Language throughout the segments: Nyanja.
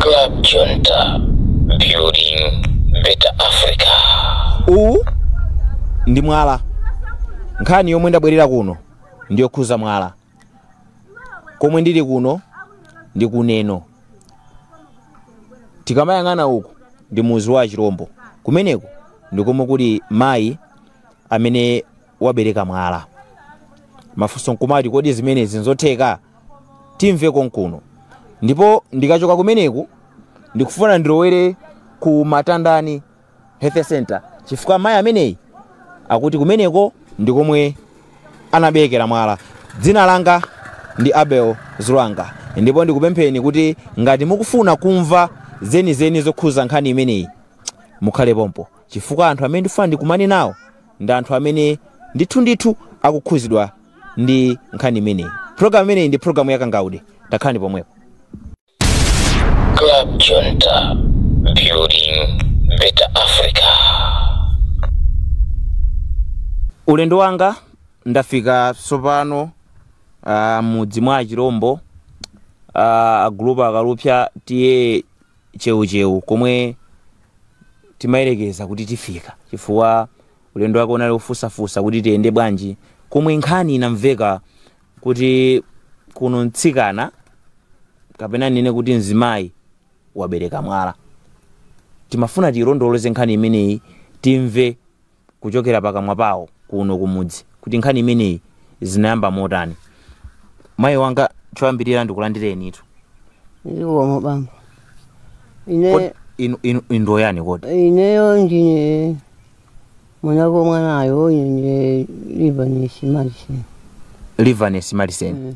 Club Junta, building better Africa. uwu ndi mwala nkhani yomwe ndabwerera kuno ndi yokhuza mwala komwe ndili kuno ndi kuneno tikamayang'ana uku ndi mudzi wa chirombo kumeneko ndi komwe kuli mayi amene wabereka mwala. Mafunso nkumati, kodi zimenezi nzotheka? Timve konkuno. Ndipo ndikachoka kumeneko ndikufuna ndilowere ku Matandani Health Center chifukwa mayi ameneyi akuti kumeneko ndi komwe anaberekera mwala. Dzina langa ndi Abel Zlwanga ndipo ndikupempheni kuti ngati mukufuna kumva zenizeni zokhuza nkhani imeneyi mukhale pompo chifukwa anthu amene ndifuna ndikumane nawo ndi anthu amene ndithu ndithu akukhuzidwa ndi nkhani imeneyi programu imeneyi ndi programu yakangaude takhalani pomwepo Club Junta, building better Africa. ulendo wanga ndafika tsopano uh, mudzi mwa achirombo uh, agulupu akalupsa tiye chewuchewu komwe timayerekeza kuti tifika chifukwa ulendo wake unali wofunsafunsa kuti tiyende bwanji komwe nkhani inamveka kuti kuno mtsikana kapena ndinene kuti mzimayi wabereka mwala timafuna tilondoloze nkhani imeneyi timve kuchokera pakamwa pawo kuno kumudzi kuti nkhani imeneyi zinayamba motani mayi wanga choyambirira ndikulandirenitu zikomo bambo ine Kodi inu inu inu ndi ayani kodi ineyo ndine make mwanayo ine ndine livanesi maliseni livanesi maliseni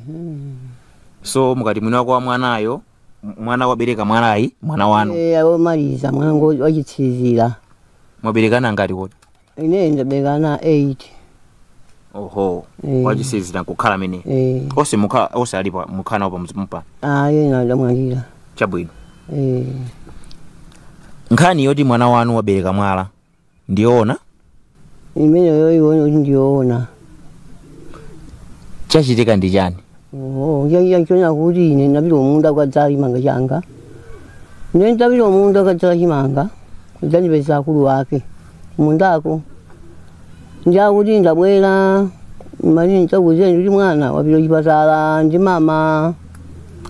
so mukati mwini wako wa mwanayo m- mwana wabereka mwalayu mwana wanu Eh, womaliza mwana wanga wachitsiriza mwabereka ana angati kodi ine ndabereka ana 8 oho Eh. wachitsiriza nkukhala amene eh onse mukhala onse alipo mukhala nawo pamudzi pompa ayi ena adamwalira chabwino eh nkhani yoti mwana wanu wabereka mwala ndiyoona imeneyo ione kuti ndiyoona chachitika ndi chani Oh, ya ya choona kuti ine ndapita kumunda kukadzala chimanga changa. Ine ndapita kumunda kukadzala chimanga. Adzandipeza akulu wake. Kumundako. Ndiye akuti ndabwera mali ndikuuzeni kuti mwana wapita chipatala ndi mama.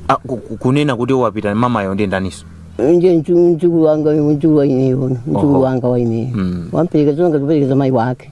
Ah, ku- ku- kunena kuti wapita mamayo ndi ndaniso Ndiye mdzu mdzukulu wanga mdzukulu wa ineyo. Mdzukulu Oho. wanga wa ineyo. Mm. Wamperekeza onga kuperekeza mai wake.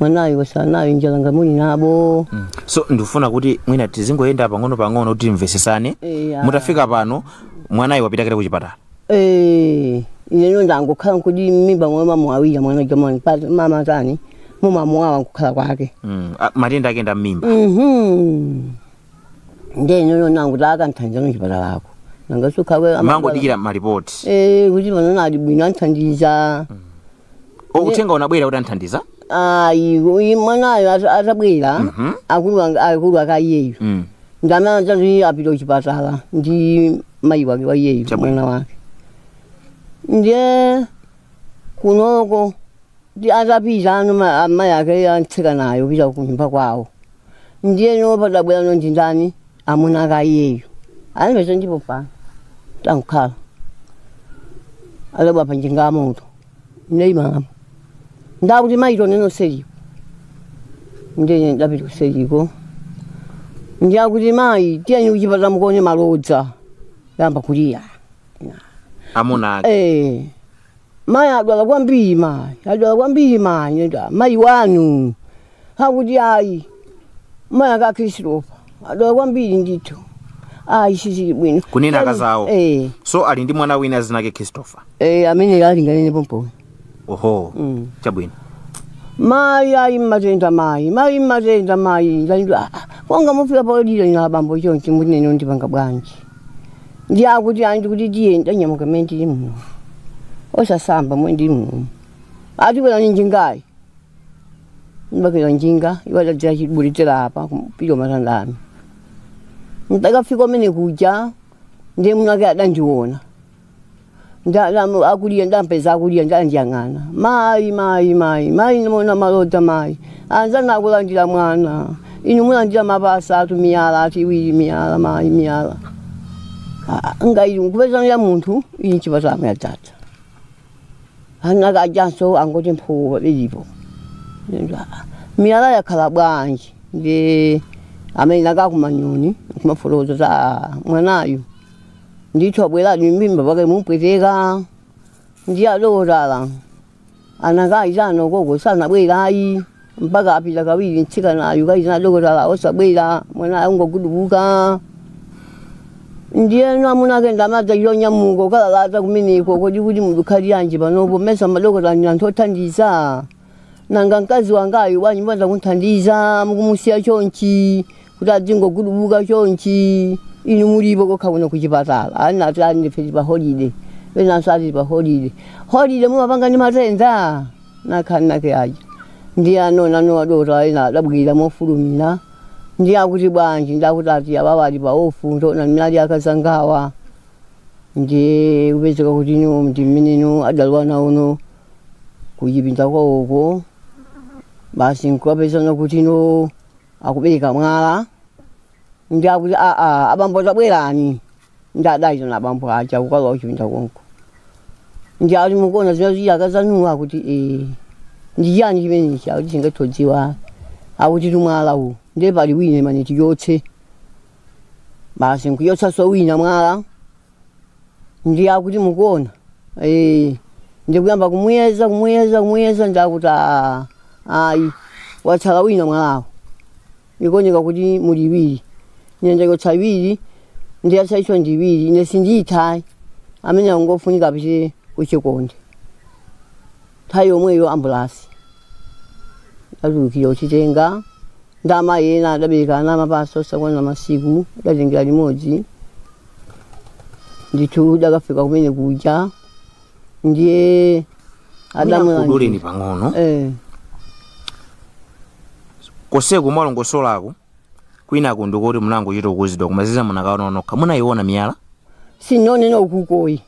mwanayo wasanayo njala ngamuli nabo Mm. so ndikufuna kuti mwina tizingoyenda pang'ono pang'ono kuti timvesesane Eya. mutafika pano mwanayi wapita kale ku chipatala Eh, ineyo ndangokhala nkuti mmimba mwa mama awira mwana jamani pati mama tani mumamuwawa nkukhala kwake Mm. Ah, matenda ake nda mmimba Mhm. nde ineyo nangu takanthandiza no chipatalako nangasukhawe amangodikira malipoti Eh, kuti panono ali bwino anthandiza O, uthenga unabwera kuti anthandiza ayi uyu mwanayo ata- atabwera Mhm. akulu ang- akulu akaiyeyo Mm. ndamanatati apita kuchipatala ndi mayi wake wa iyeyo Chabwino. mwana wake ndiye kunoko ndi atapita ano ma- amayi ake antsika naye pita kunyumba kwawo ndiyeno padabwera no ndindani amuna ake iyeyo alipezo ndipo pano tankhala alaba panjinga ya moto ndeyimamo ndakuti mayi tioneno seriko ndine ndapita kuseriko ndiye akuti mayi tiyeni kuchipatala mukaone malodza yamba kuliya amuna ake Eh, mayi adwala kwambiri mayi adwala kwambiri mayi adwala- mayi wanu akuti ayi mayi ake a Christopher adwala kwambiri ndithu ayi sizili bwino kunena akazawo eh, so ali ndi mwana wina dzina lake christopher eh, amene ali ngaleni pompo oho Mm. chabwino mayi ayi mmatenda mayi mayi mmatenda mayi ndalidwa konga mufika pa odwalayo na abambo chonchi mutinene ndipanga bwanji ndiye akuti ayi ndikuti tiye ndanyamuka mmene ndili muno osasamba mmene ndili muno ati kwerani njingayi ndibakira njinga iwo adadzera chibulitira apa kupita kuMatandani ndakafika komwe kuja ndiye mwamuna wake adandiona ndalamu akulira ndampeza akulira ndandiyang'ana mayi mayi mayi mayi ndimona malodza mayi anzana akulandira mwana inu mulandira mapasa atu miyala ati iwiri miyala mayi miyala Ah, nga ili nkupezana ya munthu ili chipatamo yadzadza ana ake ajanso angoti mphuwa bilipo miyala yakhala bwanji ndi amene nkakumayoni kumafoloza za mwanayu ndithu abweradi mimba pake ikumpweteka ndi adokotala anakayitana koko sanabwera ayi mpaka apita kawiri mtsikanayu kayitana adokotala osabwera mwana angogudubuka ndiyeno amuna ake ndamadzayo nyamuka kukalalata kumeneko kodi kuti mukukhalira chanji panopo mesa madokotala ndi anthu othandiza nanga mkazi wangayu bwanji mbadza kumthandiza mukumusiya chonchi kuti adzingogudubuka chonchi inu mulipo kokha kuno kuchipatala ena ati ife tili pa holiday enanso ali pa holiday holiday mumapanga ndi matenda anakana ma nurse aja ndiye anaona a dokotala ena adabwira mofulumira ndiye akuti bwanji ndiye akuti ati awawa ali pa ofu taonani mmene ali akazangawa ndi kupezeka kuti ino ndi mmene ino adalowa nawo uko kuchipinda kwawoko basi nkukapezana kuti ino akubereka mwala ndiye akuti aa abambo tabwerani ndiye adayitana abambo aja kukalowa kuchipinda konko ndiye ati mukuona zimene asiya akazanuwa akuti ee ndi chiyani chimenechi akuti sitingathe kudziwa akutitu mwala uwu ndiye pali wina amene tichotse basi nkuchotsanso wina mwala ndiye akuti mukuona eh, ndiye kuyamba kumuyeza kumuyeza kumuyeza ndiye akuti "Ah, ayi watsala wina mwalawo ikuoneka kuti muli iwiri ndiye ndachotsa iwiri ndiye yatsalayo ndi iwiri ine sindiyitha ayi amene angofunika apite kuchikonde nthawi yomweyo ambulansi idatulukira nkutitenga ndi amayi ena adabereka ana amapasa osakwana masiku adatitengera limodzi ndithu tidakafika kumene kuja ndiye ndikuduleni pang'ono eh, konseko mwalongosolako kwinaku ndikhoza kuti munangochita kuuzidwa koma zina munakaona nokha munayiona miyala sindinayione ukuko ayi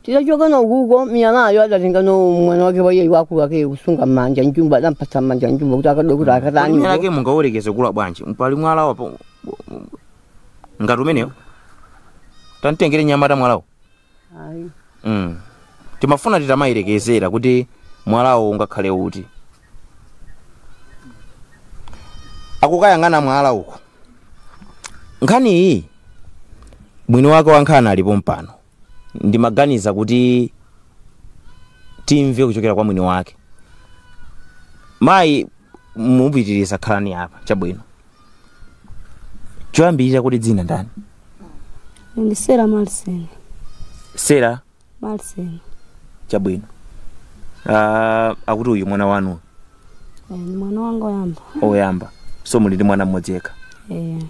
tidachoka nayo ukuko miyalayo adatenga ndi mwana wake wa mayi wamkulu wake kusunga mmanja jumbo adampatsa mmanja jumbo kuti akadokuti Kodi miyala akatani yake mungayerekeze kukula bwanji pali mwala apa ngati umenewo tamtengere nyamata mwalawo ayi mm. timafuna titamayerekezera kuti mwalawo ungakhale woti akukayang'ana mwala uko nkhani iyi mwini wake wa nkhani alipo pompano ndimaganiza kuti timve kuchokera kwa mwini wake mayi mupitirize khalani apa chabwino choyambirira kuti dzina ndani ndine sera malsen sera malsen chabwino Ah, akuti uyu ndi mwana wanu Eh, ndi mwana wanga oyamba oyamba so muli ndi mwana mmodzi yekha Eh,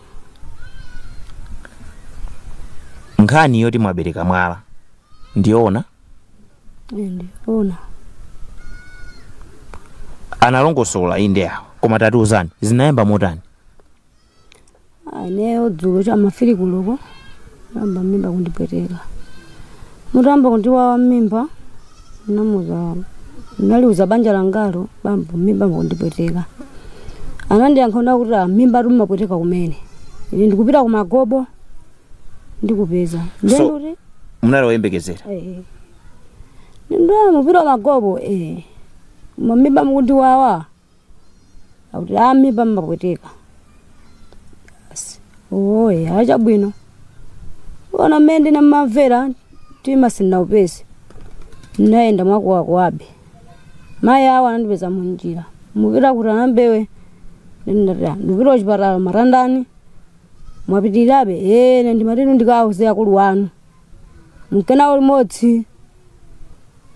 nkhani yoti mwabereka mwala ndiyoona Ona. analongosola inde awa koma tatiuzani zinayamba motani ineyo dzulo cha mafiri kuloko nayamba mimba kundipweteka mutayamba kundiwawa mmimba namuza naliuza banja langalo bambo mimba kundipweteka anandiyankha kuti "Ah, mmimba timapweteka kumene ine ndikupita kumagobo ndikupeza ndiye So- ndikuti munali woyembekezera eh, ndikupita kwa magobo eh, mmimba mukundiwawa akuti a mmimba mmakupweteka basi oye achabwino ona mmene ndinamamvera mtima sindinaupeze ndinayenda mwakuwakuwabe mayi awo anandipeza munjira mupita kuti anaMbewe ndinati ndipita kuchipatala Matandani mwapitirirabe ine ndimati inu ndikawauze akulu wanu mukanayenda limodzi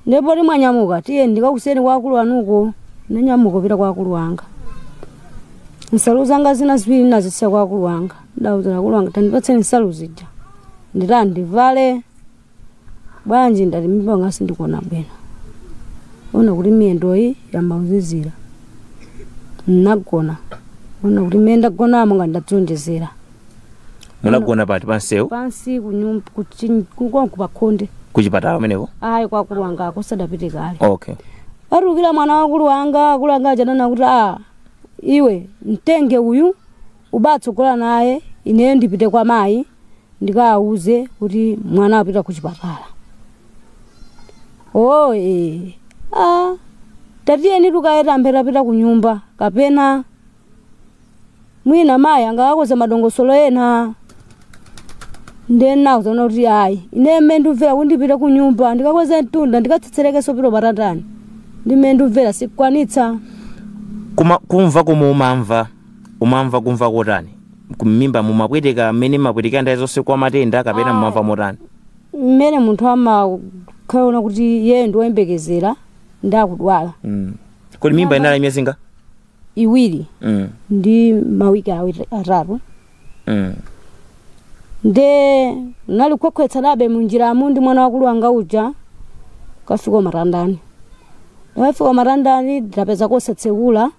ndipoti mwanyamuka tiye ndikakusiyeni kwa akulu wanuko nanyamuka pita kwa akulu wanga nsalu zanga zina ziwiri nazisiya kwa akulu wanga ndauza akulu wanga tandipatseni nsalu zija nditani ndivale bwanji ndati mimba yanga sindikuona bwino ona kuti miyendoyi yayamba kuzizira nnagona ona kuti mmene ndagonamo ngati ndadzionjezera munagona pati pansewu pansi kunyum- kuchi- kukonko pakhonde kuchipatala kumeneko ayi kwa akulu wanga uko sindapite kale okay atulukira mwana wa akulu wanga akulu wanga akunena kuti a iwe mtenge uyu uzitsogola naye ineyo ndipite kwa mayi ndikawauze kuti mwana apita ku chipatala oh eh. ah. tatiyeni tikayambe tapita ku nyumba kapena mwina mayi angakakonze madongosolo ena nde nawona kuti ayi ine mmene ndimvera kuti ndipite ku nyumba ndikakweze mtunda ndikatsetserekenso pita pa Matandani ndi mmene ndimvera sindikwanitsa Kuma, kumva komwe umamva umamva kumva kotani ku- m'mimba mumapweteka mmene mumapwetekera nthawi zonse kwa matenda kapena mumamva motani mmene munthu amakhala kuti iye ndi woyembekezera ndi akudwala Mm. kodi mimba inali ya miyezi ingati iwiri Mm. ndi mawiki awiri atatu Mm. nde nali kukhwekhweretsabe munjiramu ndi mwana wa akulu wanga uja kafika matandani ndafika matandani ndapeza kosatsekula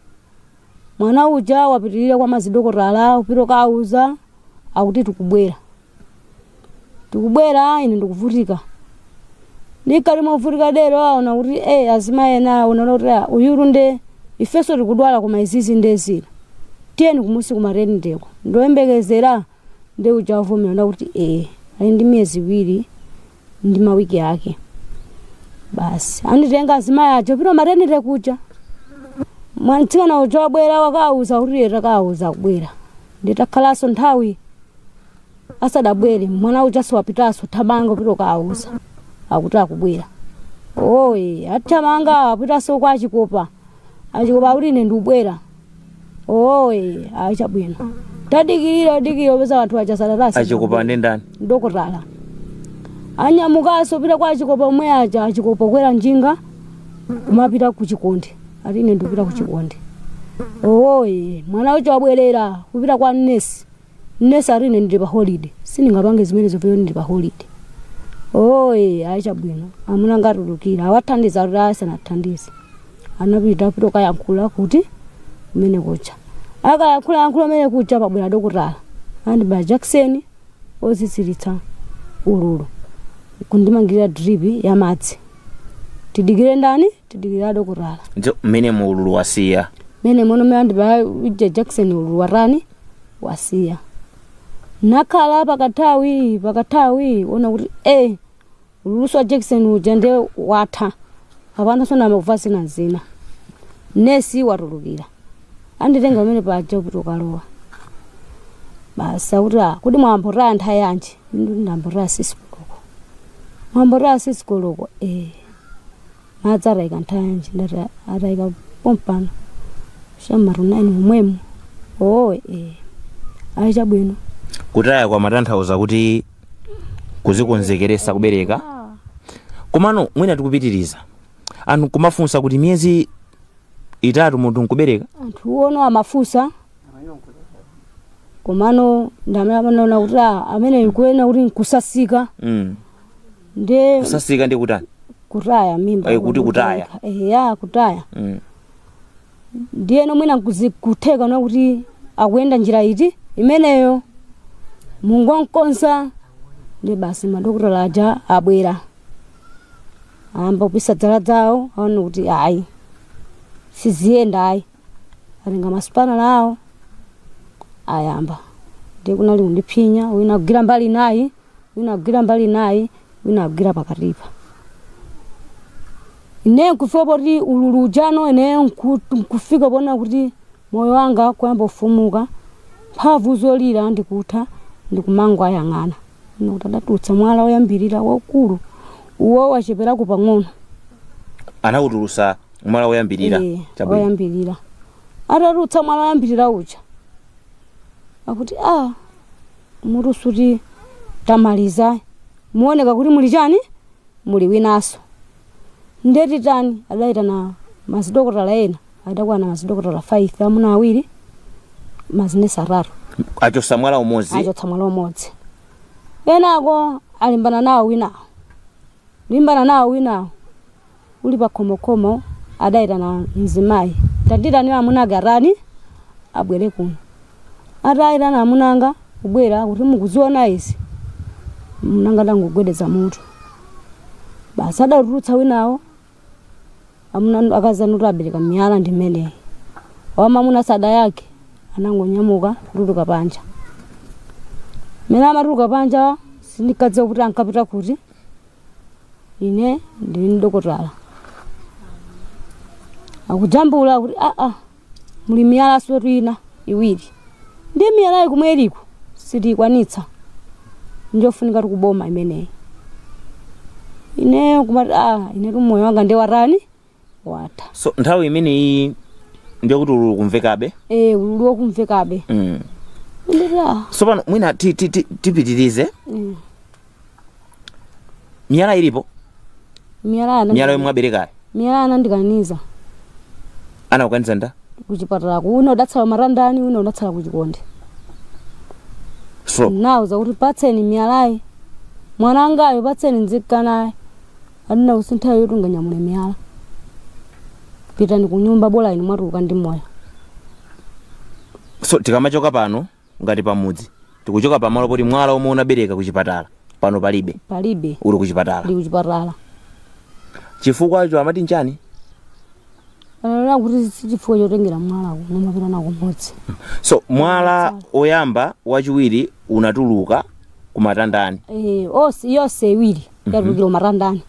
mwana uja wapitirira kwa madokotala kupita kukawauza akuti tikubwera tikubwera ine ndikuvutika ndikadali movutika dero aona kuti e azimayi ena aona kuti "Ah, uyuyu nde ifenso tikudwala koma izizi nde zina tiyeni kumusi kumateniteko ndoyembekezera nde uja wavomera ndikuti e ali ndi miyezi iwiri ndi mawiki ake basi anditenga azimayi aja pita maternity kuja mwana mtsikana uja wabwera wakauza kuti ee takauza akubwera nditakhalanso nthawi asadabwere mwana uja sopano pitaso thamanga pita ukauza akuti akubwera oye athamanga apitaso kwa achikopa achikopa akuti ine ndikubwera oye ayi chabwino tadikirira tadikirira pesa anthu aja sakutani achikopa ndi ndani dokotala anyamukanso pita kwa achikopa omwe aja achikopa kwera njinga kumapita ku chikonde ati ine ndikupita ku chikonde oye mwana uja wabwerera kupita kwa nesi nesi ati ine ndili pa holiday sindingapange zimenezo peo ndili pa holiday oye ayi chabwino amuna angotulukira awathandiza kuti asanathandize anapita apita ukayankhula kuti umene kucha akayankhula yankhula umene kucha pabwera dokotala andibaya jakisoni oziziritsa ululu kundimangirira drip ya madzi tidikire ndani tidikira adokotala Njo- mmene mu ululu wasiya mene mono andibaya uja jakisoni ululu watani wasiya nakhala pakathawi pakathawi ona kuti e ululuso wa jakisoni uja nde watha apana sono amakumva zina zina nesi watulukira anditenga pamene paja kuti ukalowa basi akuti "Ah, kuti mwayamba nthawi yanji ndayamba sikisi koloko mwayamba sikisi koloko e madzi atayika nthanji ndati atayika pompano cha m'ma 9 momwemo oo ee ayi chabwino kutaya kwa madzi tanthauza kuti kuzikonzekeresa kubereka komano mwina tikupitiriza anthu nkumafunsa kuti miyezi itatu munthu nkubereka anthu ofuna amafunsa komano ndamene amanaona kuti ah, amene akunena kuti nkusasika mm. nde kusasika ndi kutani kutaya mimba Eh, kuti kutaya. eya kutaya mm. ndiyeno mwina kuzi- kutheka na kuti akuyenda njira iti imeneyo mumangokonza ndi basi madokotala aja abwera ayamba kupisa zala zawo aone kuti ayi siziyenda ayi atenga masipanala awo ayamba ndiye kunali kundiphinya wina kugwira mbali nayi wina agwira mbali inayo wina agwira pakatipa ine nkufika poti ululu ujano ine nku- nkufika pona kuti moyo wanga kuyamba kufooka mphamvu zolira nkutha ndikumangwa ayang'ana ine kuti adatulutsa mwala woyambirira waukulu uwo wacheperako pang'ono anawutulusa mwala woyambirira Eh, chabwino woyambirira atatulutsa mwala woyambirira uja akuti a muthumo soti tamaliza muoneka kuti muli chani muli winanso ndiye titani adayitana mazidokotala ena adakwana mazidokotala 5 amuna awiri mazinesi atatu achotsa mwala umodzi achotsa mwala umodzi kenako alimbana nawo winawo limbana nawo winawo uli pakhomokomo adayitana mzimayi tandiitanira amuna ake atani abwere kuno atayitana amuna anga kubwera kuti mukuziona izi mwamunanga adangogwedeza mutu basi adatulutsa winawo amuna akazanuti abereka miyala ndi mmeneyi wamamuna sadayankhe anangonyamuka kutuluka panja mene amatuluka panja sinkadziwa kuti ankapita kuti ine ndili mdokotala akujambula kuti aa muli miyala soti ina iwiri ndi miyalayi kumwe iliko sitiyikwanitsa njofunikatu kuboma imeneyi ineyo kumati ah inetu moyo wanga nde watani watha so nthawi imeneyi ndiye kuti ululu ukumvekabe e ululu ukumvekabe mm. ndira so pano mwina ti- ti- ti- tipitirize Mm. miyala ilipo miyala ana miyala yomwe aberekayo miyala anandikaniza anakukaniza nda kuchipatalako una udatsala matandani una udatsala kuchikonde ndinauza kuti patseni miyalayi mwana wangayo patseni ndikanaye anena kuti si nthawi yoti unganyamule miyala pitani ku nyumba bola inu mwatuluka ndi moyo so tikamachoka pano ngati pamudzi tikuchoka pamalo poti mwala omwe unabereka ku chipatala pano palibe palibe uli ku chipatala ndi kuchipatala chifukwa icho amati nchani anena kuti sichifukwa chotengera mwalawo nkumapita nawo mmudzi so mwala oyamba wachiwiri unatuluka kumatandani Eh, onse yonse iwiri yatulukira kumatandani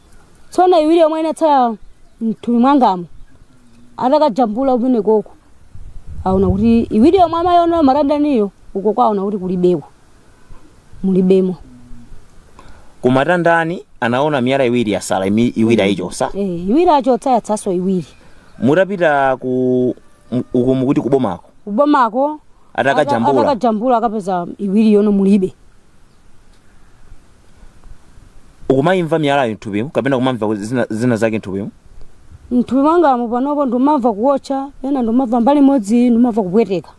tsono iwiri yomwe inatsala mthupi mwangamo atakajambula kumene kuko aona kuti iwiri yomwe amayiona kumatandaniyo uko kwaona kuti kulibeko mulibemo kumatandani anaona miyala iwiri yatsala imi- iwiri ayichotsa Eh, iwiri achotsa yatsalanso iwiri mutapita ku m- uku mukuti kubomako kubomako Atakajambula. atakajambula akapeza iwiri ijano mulibe ukumayimva miyalayo mthupimu kapena kumamva zina, zina zake mthupimu mthupi mwangamo panopo ndimamva kuotcha pena ndimamva mbali imodzi ndimamva kupweteka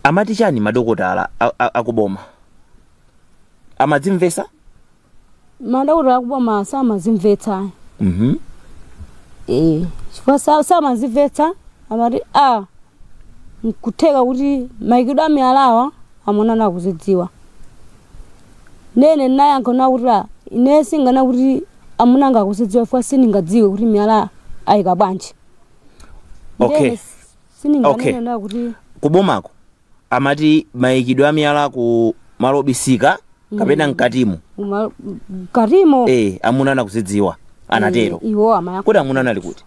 amati chani madokotala a- a- akuboma amadzimvesa madokotala akuboma samazimvetsa ayi Mhm. Eh, chifukwa sa- samazimvetsa amati a nkutheka kuti maikidwe amiyalawa amuna anu akuzidziwa nene nayankho nakuti a ine sindinganene kuti amuna anga akuzidziwa chifukwa sindingadziwe kuti miyala ayika bwanji Okay. Ndene s- sindinganene Okay. kuti kubomako amati mayikidwe a miyala ku malo obisika kapena mkatimu Uma- mkatimo eh amuna anu akuzidziwa anatero Eh, iwo amayankha kodi amuna anu ali kuti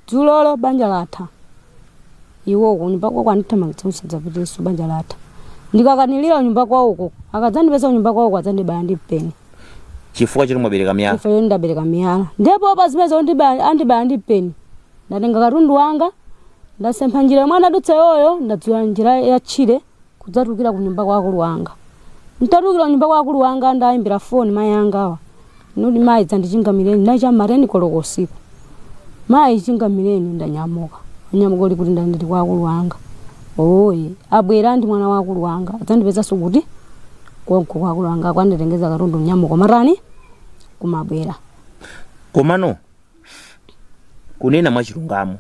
dzulolo banja latha iwo kunyumba kwako andithamangitsa usadzapiteso banja latha ndikakanirira kunyumba kwawoko akadzandipeza kunyumba kwawoko adzandibaya ndi mpeni chifukwa choti mwabereka miyala ife yo ndabereka miyala ndipo pa zimene zondibaya andibaya ndi mpeni ndatenga katundu wanga ndasempha njira yomwe anadutsa iwoyo ndadzera njira ya tchire kudzatukira ku nyumba kwa akulu wanga ntatukira ku nyumba kwa akulu wanga ndayimbira foni mayi angawa nudi mayi dzandichingamireni cha mateni koloko usiku mayi chingamireni ndanyamuka ndanyamuka uli kuti ndandili kwa akulu wanga oye abwera ndi mwana wa akulu wanga adzandipezanso kuti konko kwa akulu wanga kudzanditengetsa katundu nyamuka mateni kumabwera komano kunena mwachilungamo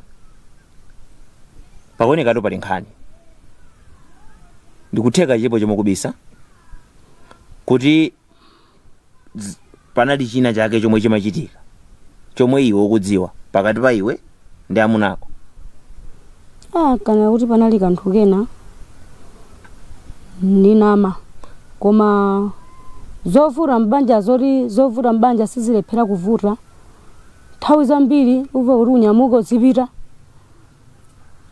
pakuonekatu pali nkhani ndikutheka chilipo chomwe ukubisa kuti z- panali china chake chomwe chimachitika chomwe iwe ukudziwa pakati pa iwe ndi amuna ako ah kunena kuti panali kanthu kena ndinama koma zovuta mbanja zoti zovuta mbanja sizilephera kuvuta nthawi zambiri umva kuti unyamuka uzipita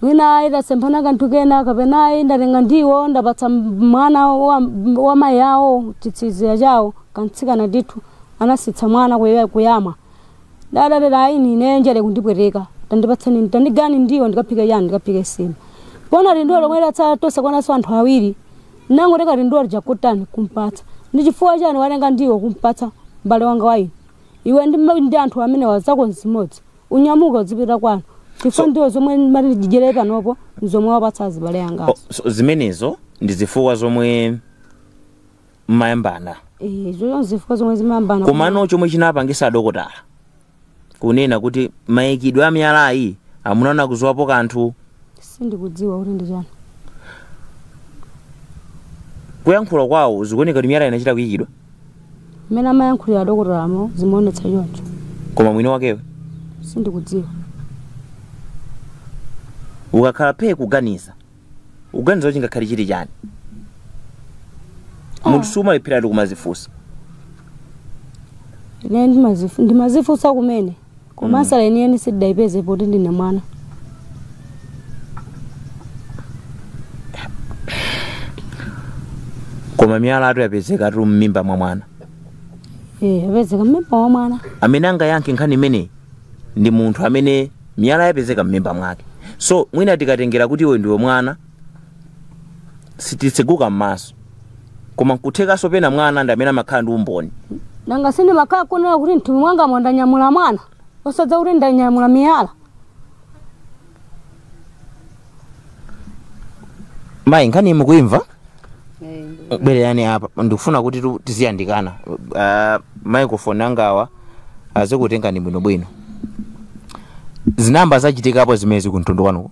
mwina ayi tasemphana kanthu kena kapena ayi ndatenga ndiwo ndapatsa m- mwana wa, wa mayi awo chitsiriza chawo kamtsikana ndithu anasiyitsa mwana kuya- kuyamwa adatero ayi ine njala ikundipweteka tandipatseni tandigayireni ndiwo ndikaphika yani ndikaphika nsima poona tindiwo tomwe tatsala tosakwananso anthu awiri ndangotenga tindiwo tija kutani kumpatsa ndi chifukwa chani watenga ndiwo kumpatsa mbale wanga wayi iwe ndi, ma- ndi anthu amenewa zako nzimodzi unyamuka uzipita kwanu chifukwa ndiwo zomwe mumati tidyere panopo nzomwe wapatsa azibale Oh, angazo zimenezo ndi zifukwa zomwe mumayambana izo nzifukwa zomwe timayambana komano chomwe chinapangisa adokotala kunena kuti mayikidwe a miyalayi amuna anu akudziwapo kanthu sindikudziwa kuti ndi chani kuyankhula kwawo zikuoneka kuti miyala inachita kuyikidwa mmene amayankhulira adokotalamo zimaonetsa choncho koma mwini wakewe sindikudziwa ukakhala phe kuganiza uganiza kuti ngakhale chili chani munthu sumalephera kumazifunsa ine ndimazifu- ndimazifunsa kumene koma ansala yeniyeni sindidayipeze poti ndine mwana koma miyalatu yapezekatu m'mimba mwa mwana Eh, yapezeka mmimba mwa mwana amene angayankhe nkhani imeneyi ndi munthu amene miyala yapezeka m'mimba mwake so mwina tikatengera kuti iwe ndiwe mwana sititseguka m'maso koma nkuthekanso pena mwana ndi amene amakhala ndi umboni nanga sindimakhala kudziwa kuti m'thupi mwangamwa ndanyamula mwana osadziwa kuti ndanyamula miyala mayi nkhani mukuimva bwererani apa ndikufuna kuti tu- tiziyandikana Ah, microphone angawa azikutengani bwinobwino zinayamba zachitikapo zimene zikumtundu kwanuko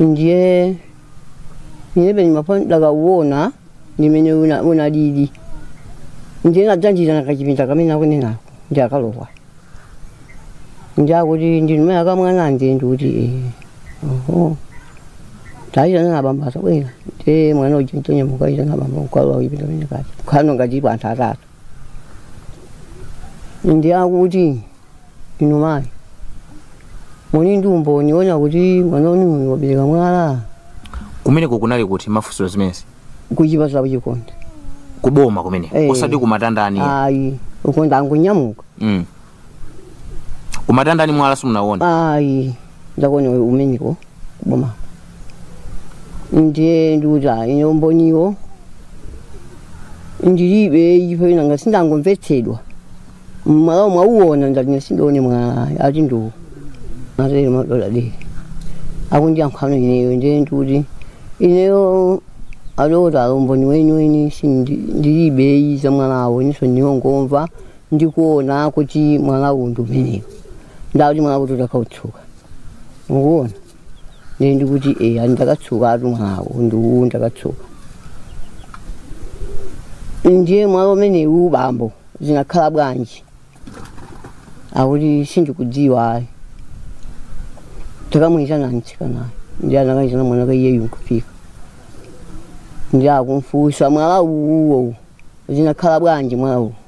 ndiye ndiye penye mapo ndakauona ndimene una- unalili ndiye anandipititsa kukachipinda kamene akunenako ndiye akalowa ndiye akuti ndinumene akamwana ndi ndikuti "Eh, oho taitana abambo abwere ndiye mwana uja ntonyamuka kuitana abambo kukalowa kuchipinda kamene kaja kukhala ngati tilipo anthu atatu ndiye akuti Inu mayi, muli ndi umboni wonena kuti mwana wanu uyu wabereka mwala? kumeneko kunali kuti mafunso zimenezi Kuchipatala ku Chikonde. kuboma kumene Eh. osati kumatandani Ayi, uko ndangonyamuka. mm. kumatandani mwala simunawona Ayi, ndakauona kumeneko kuboma. Ndiye ndikuti ayi, ine umboniwo ndilibe ine nanga si ndangomvetsedwa. mwalawo mwauona ndati ine sindinaone mwala ati ndiwo amatero adokotala ndiye akundiyankhano ineyo ndiye ndikuti ineyo adokotala umboni weniweni ndilibe ayi za mwalawo inenso ndangomva ndikuona kuti mwalawo ndi umenewo ndati mwalawo kodi utakautsuka mukuona ndiye ndikuti eya ndakatsukatu mwalawo ndiwu ndakatsuka ndiye mwala umenewu bambo zinakhala bwanji akuti sindikudziwa ayi takamuyitana mtsikanayo ndiye anakayitana mwanaka iyeyu nkufika ndiye akumfusa mwala uwuwo zinakhala bwanji mwala uwu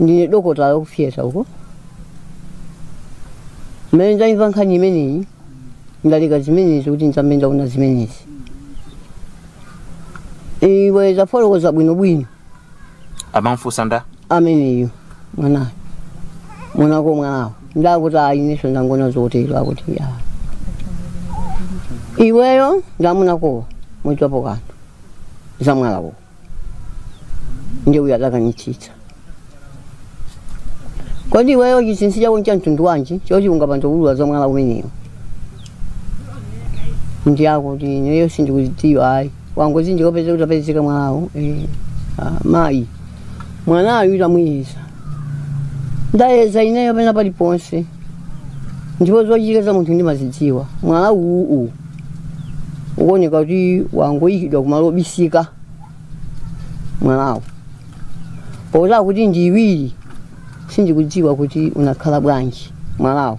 ndine dokotala wa ku fiyeta uko mmene ndayimva nkhani imeneyi ndaleka zimenezi kuti ndiyambe ndaona zimenezi iwe tafotokoza bwinobwino amamfunsa nda ameneyo mwanayo mwanako mwalawo nda akuti ayi inenso ndangona zotero akuti ya iweyo nda amunakowa mudziwapo kanthu za mwalawo ndiye uyo adakanitsitsa kodi iweyo chinsinsi chako ncha mtundu wanji choti ungapande kuulula za mwala umenewu ndiye akuti ineyo sindikudziwa ayi angondipeza kuti wapezeka mwalawo eh, ah, mayi mwanayu ndamuyeza ndayeza ineyo pena paliponse ndipo zochitika za munthu ndimazidziwa mwala uwu uwu ukuoneka kuti wangoyikidwa kumalo obisika mwalawo poti akuti ndi iwiri sindikudziwa kuti unakhala bwanji mwalawo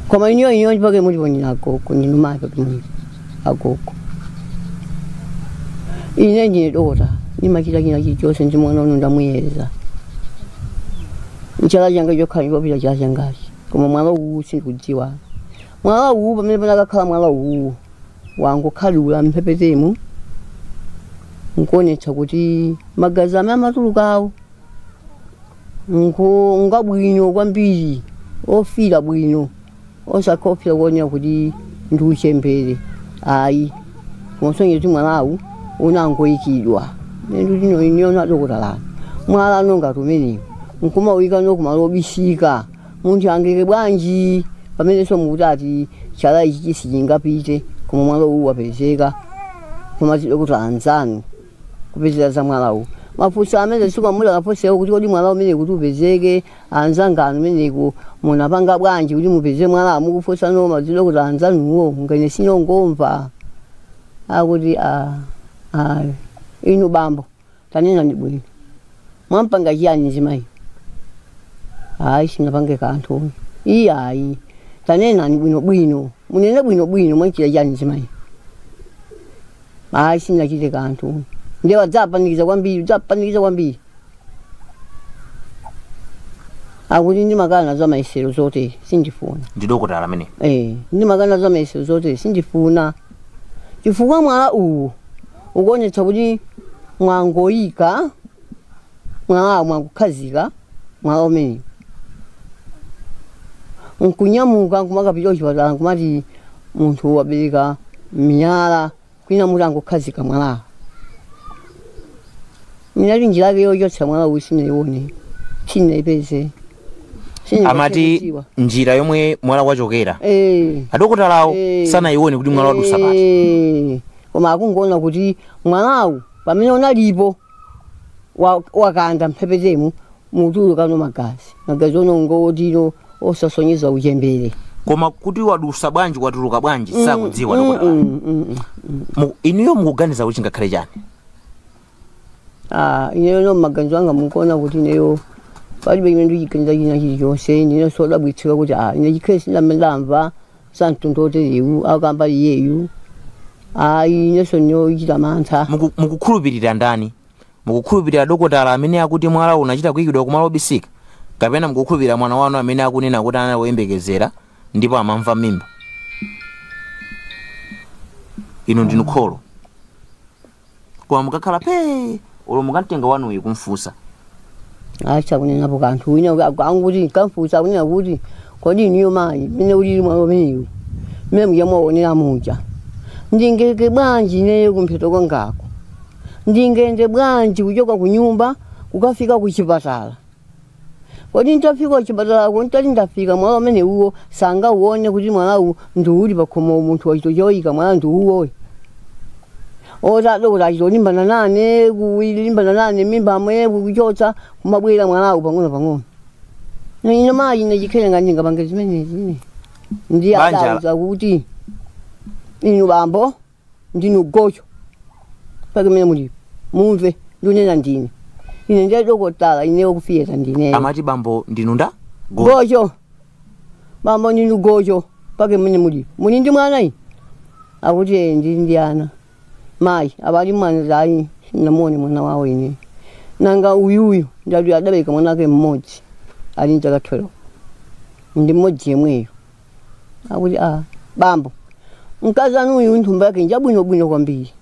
koma ineyo ineyo ndipake muliponyera agogo ndinumake pamwiri agogo ine ndine dokotala ndimachita china chilichonse ndi mwana uno ndamuyeza nchala changa chokhala osapita chala changachi koma mwala uwu sindikudziwa mwala uwu pamene panakakhala mwala uwu wangokhadzula mphepetemo nkuonetsa kuti magazi amene amatulukawo nku- ngabwino kwambiri ofira bwino osakhala ofira kuonera kuti ndi uchembere ayi kumasonyeza kuti mwalawu unangoyikidwa ndi inu inuyo adokotala mwala ngati umenewu nkumauyika kumalo obisika munthu angaike bwanji pamenenso mukuti ati chala ichi sichingapite koma mwala uwu wapezeka koma adokotala anzanu kupezera za mwalawu mafunso amene sikwamulakaposewo kuti kodi mwala umene kuti upezeke anzanganu mmeneko munapanga bwanji kuti mupeze mwalawo akuwafunsano madzidokotala anzanuwo ineyo ndangomva akuti a a inu bambo tanenani bwino mwampanga chiyani mzimayi ayi sinapange kanthu uyu iye ayi tanenani bwinobwino munene bwinobwino mwanchita chiyani mzimayi ayi sindinachite kanthu ndiye adzapanikiza kwambiri adzapanikiza kwambiri akuti ndimakana za mayesero zotere sindifuna ndine dokotala amene Eh, ndimakana za mayesero zotere sindifuna chifukwa mwala uwu ukuonetsa kuti mwangoyika mwala mwakukhazika mwala umenewu nkunyamuka nkumakapita kuchipatala nkumati munthu wabereka miyala kwinaku mutangokhazika mwalawo minali njira yake yochotsa mwala uwu sanayione sanayipeze amati njira yomwe mwalawu wachokera eh adokotalawo Eh. sanayione kuti mwalawu wadutsa pati Eh, koma akungoona kuti mwalawu pamene unalilipo wa- wakanda mphepetemu mutulukano magazi magazi onongeka otino osasonyeza uchembere koma kuti wadutsa bwanji watuluka bwanji sakudziwa Mm, dokotala mm, mm, mm. Mu- inuyo mukuganiza kuti chingakhale chani Ah, ineyo m'maganizo anga mukuona kuti ineyo palibe chimene ndichiganiza china chilichonse ndine sodabwitsika kuti ah, ine chikhale sindamva zamtundu woterewu akamba iyeyu ayi inenso ndikuchita mantha Muku- mukukhulupirira ndani mukukhulupirira dokotala amene akuti mwalawo unachita kuyikidwa kumalo obisika kapena mukukhulupirira mwana wanu amene akunena kuti anali woyembekezera ndipo amamva m'mimba inu ndinu kholo koma mukakhala pee olo mukamtenga mwanayu kumfunsa asakunenapo kanthu wina aku- anguti nkamfunsa kunena kuti kodi inuyo mayi mmene ulili mwala umenewu mmene muja mwaonera muja ndingaike bwanji ineyo kumpheto kwangako ndingayende bwanji kuchoka ku nyumba kukafika ku chipatala kodi ntafika kuchipatala kuno nditati ndafika mwala umene uwo asangauone kuti mwalawu ndi uli pakhomo munthu wachita choyika mwala ndi uwoyi oti adokotala achita kulimbana nane kulimbana nane m'mimba momwe kuchotsa kumabwera mwalawu pang'ono pang'ono Na ine mayi ine chikhale ngati ndingapange zimenezi ine ndiye Banja la- adauza kuti inu bambo ndinu gojo mpaka mmene mulipo mumve ndunena ndine ine ndi dokotala ineyo kufiyeta ndineyo amati bambo ndinu nda Go- gojo bambo ndinu gojo mpaka mmene mulipo muli ndi mwana ine akuti "Eh, ndili ndi ana mayi abali mwana ayi sinamuone mwana wawo ine nanga uyuyu ndati adabereka mwana wake mmodzi ali ndi zaka 12 ndi mmodzi yemweyo akuti ah, bambo mkazi wanu uyu ntumbo yake njabwinobwino kwambiri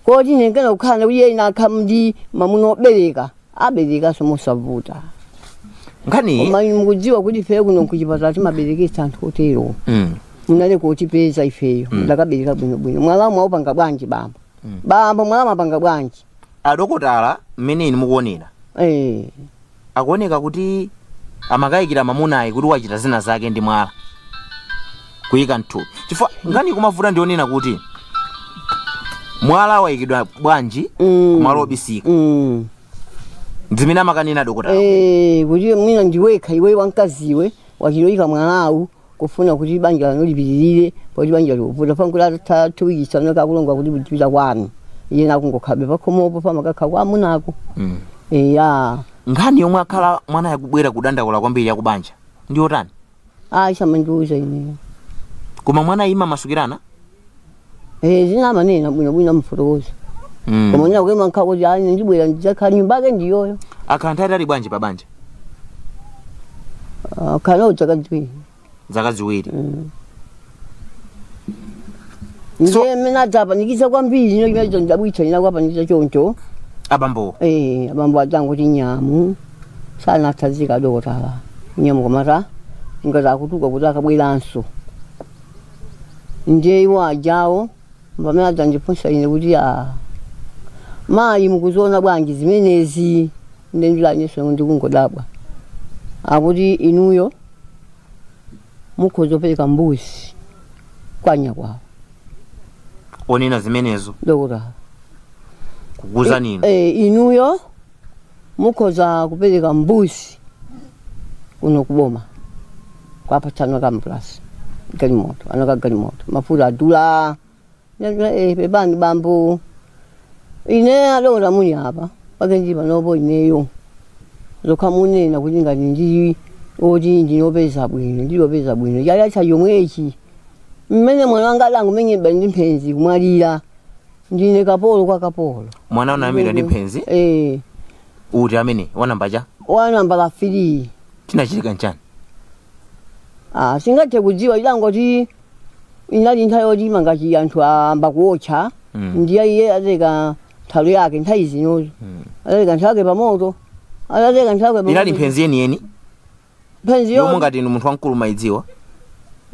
koti nengena kukhala nakuti iye atakhala ndi mamuna obereka aberekanso mosavuta nkhani koma inu mukudziwa kuti ife kuno kuchipatala timabereketsa anthu otero mm. munalikutipeza ifeyo adakabereka bwinobwino mwala mwaupanga bwanji bambo bambo mwala mwapanga bwanji adokotala mmene inu mukuonera eh akuoneka kuti amakayikira mamunayi kuti wachita zina zake ndi mwala kuyika mthupi chifukwa nkhani kumavuta ndi yonena kuti mwala wayikidwa bwanji Mm. kumalo obisika mm zimene amakanena dokotala eh kuti mwina ndiwekha iwe wamkaziwe wachitoyika mwalawu kufuna kuti banja lanu lipitirire poti banja likuvuta pankula atatha two weeks ankakulonga kuti uzipita kwanu iwe nkungokhalabe pakhomopo pamakakha kwa amunako Mm. eya nkhani yomwe akhala mwanayu akubwera kudandaula kwambiri yakubanja ndi yotani ayi samandiuza ineyo koma mwana mumamasukirana Eh, zina amanena bwino bwino amufotokoza Mm. koma ina kuima nkha kuti ayi ndibwera ndidzakhala nyumba yake ndiyoyo akhala nthawi yaitali bwanji pa banja Ah, wakhala nawo dzaka ziwiri zaka ziwiri So- ndiye mmene adzapanikiza kwambiri ino chimene chondabwitsa ine kuwapanikiza choncho abambowo Eh, abambo adzangoti nyamu sanatsanzika adokotala nyamu kumachita ngati akutuluka kuti akabweranso ndiye iwo ajawo pamene adzandifunsa ine kuti a mayi mukuziona bwanji zimenezi ine ndidati inenso ndikungodabwa akuti inuyo mukhoza kupereka mbuzi kwa nyakwawa onena zimenezo dokotala kukuuzani inu e, inuyo mukhoza kupereka mbuzi kuno kuboma kuwapatsa anaka ambulansi galimoto anaka galimoto mafuta adula Ndatula, eh, pepani bambo ine adokota muli apa pakenji panopo ineyo zokha munena kuti ngati ndili oti ndinopeza bwino ndilopeza bwino chaka chatha chomwechi mmene mwana wanga adangomenyedwa ndi mphenzi kumwalira ndine kapolo kwa kapolo mwana anamwalira ndi mphenzi eh uti amene wa nambala chani wa nambala 3 chinachitika nchani ah sindingathe kudziwa idangoti inali nthawi yoti mangati anthu ayamba kuotcha Mm. ndiye iye atereka nthalo yake nthawi zinozo atereka nthalo yake pamoto atereka nthalo yake inali pamoto. mphenzi yeniyeni mphenzi yomweyo ngati inu munthu wamkulu mumaidziwa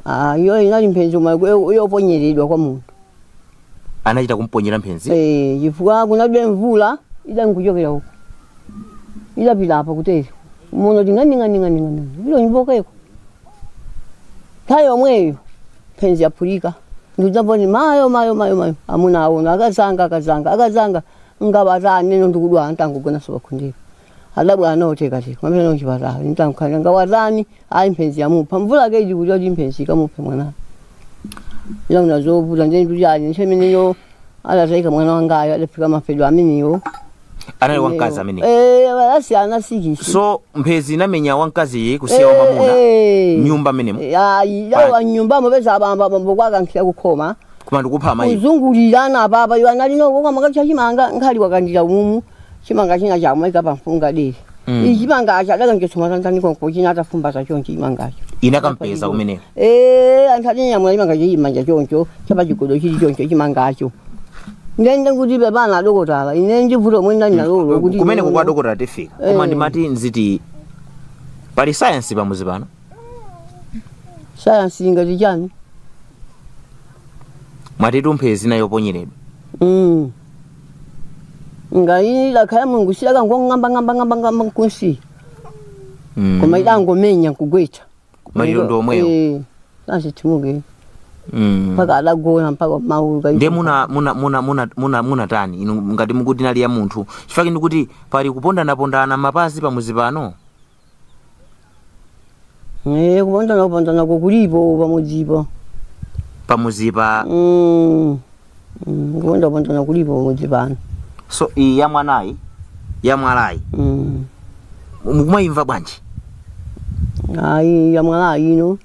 ah, iyo inali mphenzi yomwe yo- yoponyeredwa kwa munthu anachita kumponyera mphenzi Eh, chifukwa kunalibe mvula idali ikuchokera uko idapita apa kutere muno ting'aning'aning'aning'ani vilo nyumbokeko nthawi yomweyo mphenzi yaphulika ndikudzamboni mayo mayo mayo mayo amuna aona akazanga akazanga akazanga ngaba ataneno ndikudwala nditangogonanso pakhundira adabwera nawo tikatenga kupita nawo chipatala ndintamkhalira ngati watani ayi mphezi yamupha mvula yake ili kuti kuti mphezi ikamuphe mwanayo ndinaona zovuta ndiye ndikuti ali nthawi imeneyo adatayika mwana wangayo adafika mafedwe amenewo anali wamkazi amene Eh, asiyana sikisi so mphezi inamenya wamkaziyo kusiya wamamuna nyumba imeneyo ayi yalowa nyumbamo kupeza abamba bambo kuwakankhira kukhoma kumandikupha amayi kuzungulirana apapa iwo anali uko kumakacha chimanga nkhali wakandira umumu chimanga china chomaika pamfunga dere Mm. ichi chimangacho adakanjotsa matanganiko nkochina atafumbaza choncho chimangacho inakampeza kumeneko Eh, anthu atinyamula chimanga chimanja choncho chapachigodo chili choncho chimangacho ndiye nkuti pepana adokotala ine ndivuto lomwe ndinali nalolo kuti kumeneko kwa dokotala tifika koma Eh. ndimati nziti pali sayansi pamudzi pano sayansi ingati chani mwatitu mphezi inali yoponyeredwa Mm. ngati idakhala ya mulungu sidakang'ambang'ambang'ambang'amba kusi Mm. koma idangomenya nkugwetsa maliro ndi omwewo Eh, azitimuke Mm. mpaka adagona mpaka maulu ndiye muna muna muna muna muna munatani inu ngati mukuti inali ya munthu chifukwa ndikuti pali kupondanapondana mapazi pamudzi pano Eh, kupondana kupondana kukulipo pamudzipo pamudzipa Mm. Mm, kuponda kupondana kulipo pamudzi pano so iyi ya mwanayi ya mwalayi Mm. mukumayimva bwanji ayi yamwala ino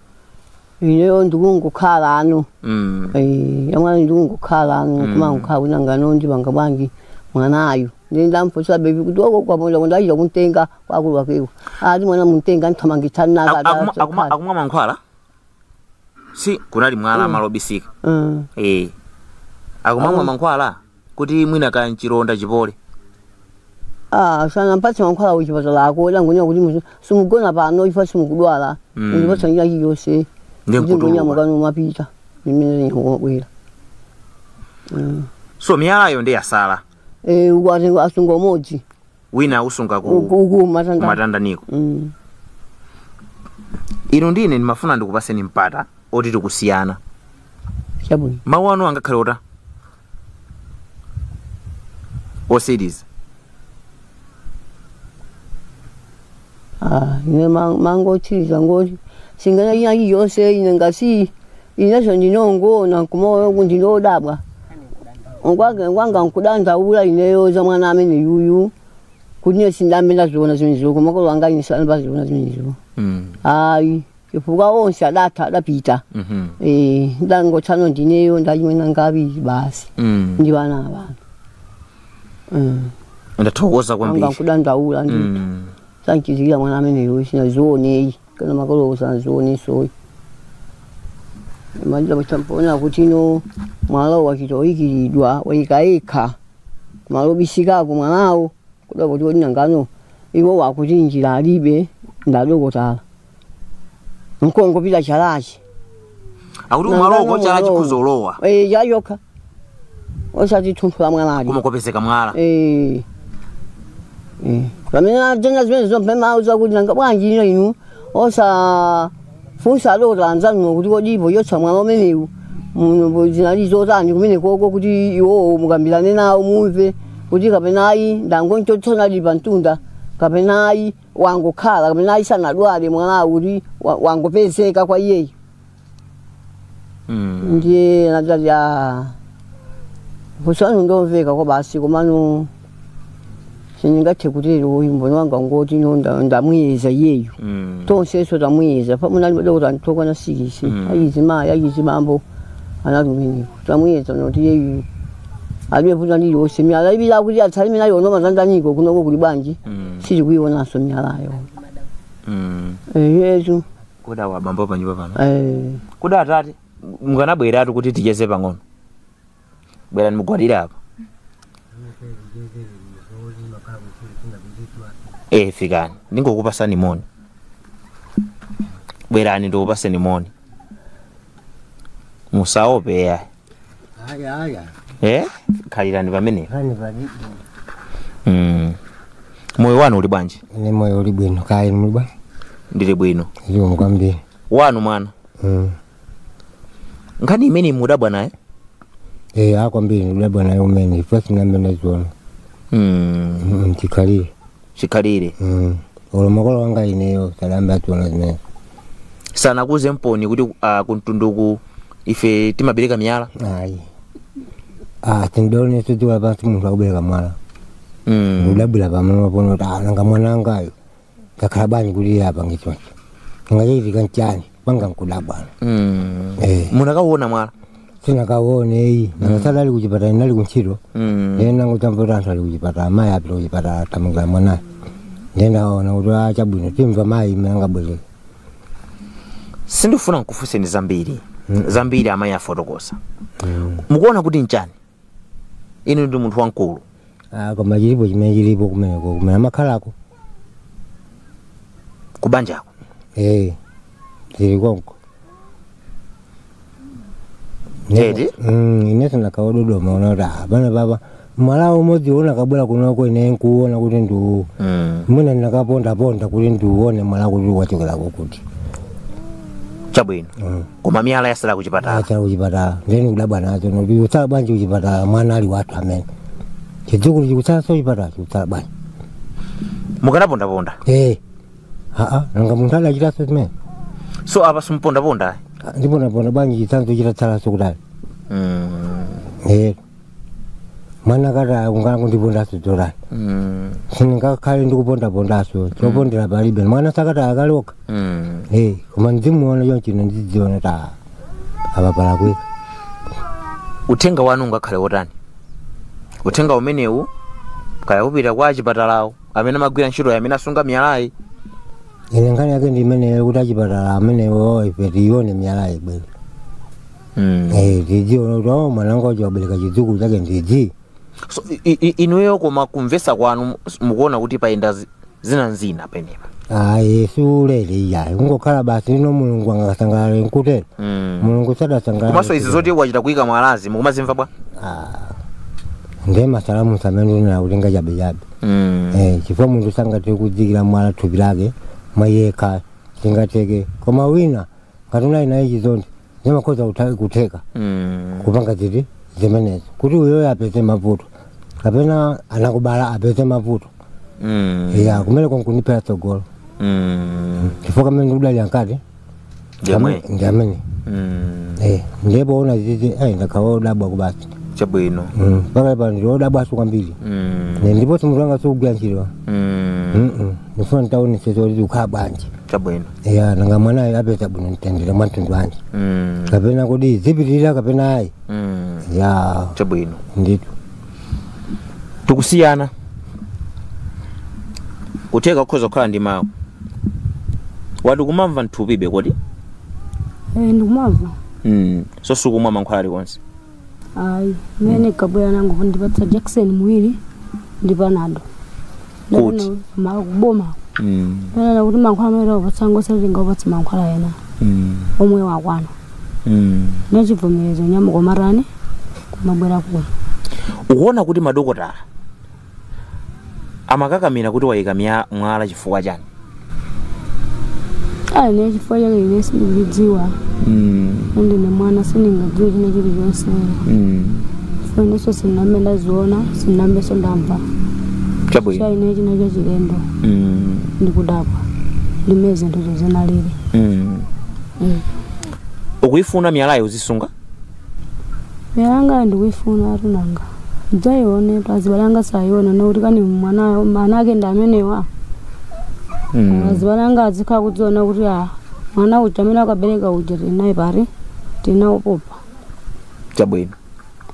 ineyo ndikungokhala ano mm. Eh, yamwala ndikungokhala ano kumangokhala nanga ano ndipanga bwanji mwanayo ndindamphosa bebi kuti wako kwaponda kuti achita kumtenga wakulu wakewo ali mwana mumtenge nkuthamangitsa Aku- akuma- akuma- nakadaaakuma akumwa mankhwala si kunali mwala malo obisika eh akumamwa mankhwala kuti mwina kaya mchilonda chipole sanampatse mankhwala kuchipatala ako angonena kuti muzi- simugona pano if simukudwala Mm. ndipatsa njira iliyonse Ndiye kuti nkutuluka. ngonyamuka nkumapita mmene ndikubwera so miyalayo nde yatsala mukuti asunga umodzi wina ausunga ku uku uku matanda kumatandaniko Mm. inu ndine ndimafuna ndikupatseni mpata oti tikusiyana chabwino mawu anu angakhale otani otsiriza Ah, ine ma- mawu otsiriza ngoti sing'anga china chilichonse ine ngasi ineso ndimangoona nkumaona kuti ndinodabwa ngwake ngwanga nkudandaula ineyo za mwana ameneyuyu kuti ine sindambe ndaziona zimenezo komanso makolo anga ine sandambe ziona zimenezo Mm. ayi chifukwa onse adatha adapita Mhm. Eh, ndangotsala ndineyo ndi achimwene anga awiri basi Mm. ndi ana awana ndathokoza anga kwambiri nkudandaula ndi Mm. sanchizikira mwana ameneyuyu sinazioneyi kana makolo sanazioneso manja mutapona kuti ino mwala wachita koyikiridwa waika ika malo bisikako mwalawo kuda kuti odi nangano iwo akuti njira alibe ndi adokotala nkungopita chalachi akuti umaloko chala chikuzalowa Eh, chayokha osati thunthu la mwala ayi koma kopezeka mwala Eh. Eh. pamene atenga zimene zompema zakuti nanga bwanji inu osafunsa adokota anzanuwo kuti kodi pochotsa mwala umenewu muno bo zinali zotani kumene koko kuti iwowo mukambirane nawo mumve kuti kapena ayi ndangomchotsadi pa mtunda kapena ayi wangokhala kapena ayisanadwale mwalawo kuti wa- wangopezeka kwa iyeyo Mm. ndiye anati a kufunsa kwanu nkomveka kwabasi komano sindingathe kutero uyu mboni wanga ngoti ine nda- ndamuyeza iyeyo Mm. tonseso tamuyeza pamene anali madokotala okwana sikisi Mm. azimayi azibambo anatumeneko Tamuyeza nkuti iyeyu alibe vuto ndiye onse miyala iwiri akuti atsale nayo ino mwazandanika kunoko kuli bwanji Mm. sitikuionanso miyalayo Mm. eyetu Kodi awa abambo pa nyumba pano. eh. Kodi atate mukanabweratu kuti ticheze pang'ono. Bwerani mugwadire apa. Eh fikani. Ndingokupasani moni. Bwerani ndikupaseni moni. musaope iyayi Ayi ayi. eh khalirani pamene Hani palibe. mm. moyo wanu uli bwanji Ine moyo uli bwino kaya inu muli bwa. ndili bwino Zikomo kwambiri. wanu mwana Mm. nkhani imene mudabwa naye Eh kwambiri ndidabwa nayo umene. First ndamene naziona. mm. Mm chikhalire. chikhalire Mm. olo makolo wanga ineyo sadayambe aziona zimenezo sanakuuzeniponi kuti uh, kumtundu kuno ife timabereka miyala ayi ah sindinaone so tidziwa pansi munthu akubereka mwala mm. ndidabwira pamenepono kuti ah nanga mwana angayo wakhala bwanji kuti iye apange choncho chachitika nchani panga nkudabwa Mm. Eh. munakauona mwalawo sinakauone iyayi nakasala ali kuchipatala ine ndinali kuntchito Mm. ndiye ndinangutsabwika anthu ali kuchipatala amayi apite kuchipatala thamangirani mwanayo ndiye ndinawaona kuti a chabwino timva mayi mmene angabwerere sindifuna nkufunseni zambiri zambiri amayi afotokoza mukuona kuti nchani inu ndi munthu wamkulu Ah, koma chilipo chimene chilipo kumeneko kumene amakhalako kubanjako eh zili konko Eti? Mm, ineso ndakaododoma ona kuti ah, pano papa mwalawo umodzi uwo unakabwera kunoko ine nkuona kuti ndi uwu mm. mwina ndinakapondaponda kuti ndiuone mwalawo kuti wachokera kukuti chabwino mm. koma miyala yasala kuchipatala yasala kuchipatala nde nikudabwa nazo nokuti utsala bwanji kuchipatala mwana ali wathu amene chidzukulu chikutsalaso kuchipatala chikutsala bwanji mukanapondaponda ee aa nanga munthu adachitanso zimenezo apa simupondaponda ndipondaponda bwanji chitsanzo chitatsalaso kutali mm. ee mwana kata kungoyala kundipondaso zotani Mm. sindingakhale ndikupondapondaso chopondera palibe mwana sakata akaloka Mm. Eh, koma ndimuona chonchino ndidziona ta apapala kwika uthenga wanu ungakhale wotani uthenga umenewu kaya upita kwa achipatalawo amene amagwira ntchitoyo amene asunga miyalayi ine nkhani yake ndi imeneyo kuti achipatala amenewo ife tione miyalayi ibwere Mm. Eh, tidziona kuti o mwana wanga uja wabereka chidzukulu chake ndzidzi so i- i- i- inuyo koma kumvesa kwanu s- mukuona kuti payenda zi- zina nzina penapake ayi siulere iyayi kungokhala basi olo mulungu sangasangalale nkutero Mm. mulungu sadasangalale komanso izi zoti wachita kuyika mwalazi mukumazimva bwa nde masalamusi amene amanena kuti ngachabechabe Mm. Eh, chifukwa munthu sangathe kudziikira mwala mthupi lake mwayekha singatheke koma wina ngati unali naye chizonde zimakhoza kutha- kutheka Mm. kupanga ziti zimenezo kuti uyoyo apeze mavuto kapena anakubala apeze mavuto Mm. ya kumene kwa nkundiphera tsogolo Mm. chifukwa kamene ndikudali ankati Jamwe. ndi amene Mm. Eh, ndipo ona zizi ayi ndakhala odabwa basi Chabwino. Mm, mpaka pano ndi odabwaso kwambiri Mm. Ne, ndipo mutu wanga sikugwira ntchito Mm. Mm-mm. ndifuna nditaonese zoti zikukhala bwanji chabwino ya nanga mwanayo apeza bwanji mtendere mwa mtundu wanji mm. kapena kodi zipitirira kapena ayi mm. ya chabwino ndithu tikusiyani kutheka kukhoza kukhala ndi mawu wa ukumamva mthupi bwanji Eh, ndikumamva mm. so sukumwa mankhwala alikonse ayi mmene nabwera nangu kundipatsa jackson muwiri ndi panado Kuti? kuboma Mm. ndanena kuti mankhwala amene takupatsa ngosati angakupatse mankhwala ena Mm. omwe wakwana Mm. nachivomerezo n'yomwe ukumatani kumabwera kuno ukuona kuti madokotala amakakamira kuti wayika mya- mwala chifukwa chani ayi nde chifukwa chake ine sindikuchidziwa ndine mwana sindingadziwe china chilichonse chifukwa inenso sindinambe ndaziona sindinambenso ndamva cha chabwino ine n'chinthu chachilendo Mm, ndikudabwa ndimene zinthu zo zinalili mm. ukuyifuna miyalayo uzisunga Miyala yangayo ndikuifunatu nanga. Adzaionetu azibale anga adzaione n'kuti kani mwana mwana ake ndi amenewa. Mm. Azibale anga azikhala kudziona kuti a mwana uja amene akabereka uja tili naye pali tinampopa. Chabwino.